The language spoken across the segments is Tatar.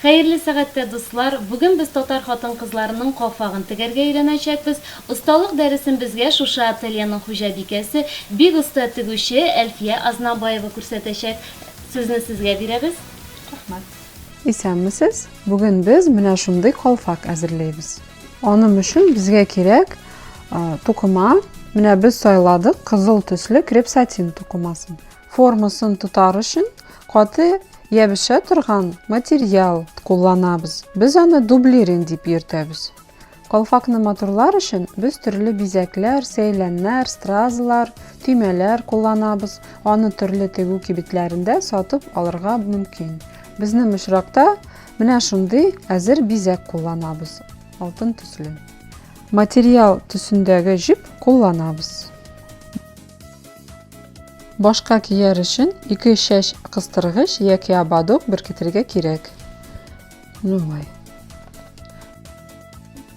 Хәерле сәгатьтә, дуслар! Бүген без татар хатын-кызларының калфагын тегәргә өйрәнәчәкбез. Осталык дәресен безгә шушы ательеның хуҗабикәсе, бик оста тегүче Әлфия Азнабаева күрсәтәчәк. Сүзне сезгә бирәбез. Рәхмәт. Исәнмесез! Бүген без менә шундый калфак әзерләйбез. Аным өчен безгә кирәк тукыма. Менә без сайладык кызыл төсле креп-сатин тукымасын. Формасын тотар өчен каты ябеша торган материал кулланабыз. Без аны дублирин дип йөртәбез. Калфакны матурлар өчен без төрле бизәкләр, сәйләннәр, стразлар, төймәләр кулланабыз. Аны төрле тегү кибетләрендә сатып алырга мөмкин. Безнең очракта менә шундый әзер бизәк кулланабыз. Алтын төсле. Материал төсендәге җеп кулланабыз. Башка кияр өчен ике чәч кыстыргыч яки ободок беркетергә кирәк. Ну вай.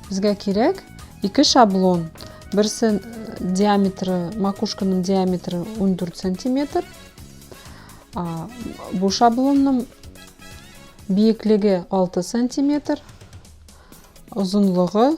Безгә кирәк ике шаблон. Берсе диаметры, макушканың диаметры 14 сантиметр. Бу шаблонның биеклеге 6 сантиметр, озынлыгы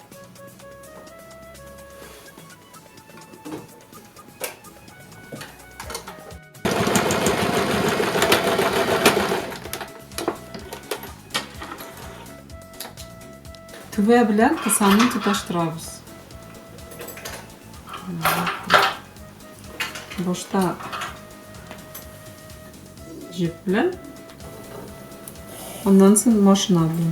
Тәвә белән кысаны тоташтырабыз. Башта җеп белән, аннан соң машина белән.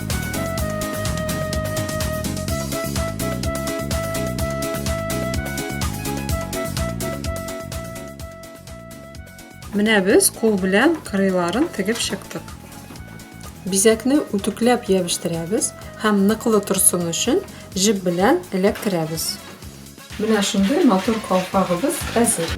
Менә без кул белән кырыйларын тегеп чыктык. Бизәкне үтүкләп ябештырабыз һәм ныклы торсын өчен җеп белән эләктерәбез. Менә шундый матур калфагыбыз әзер.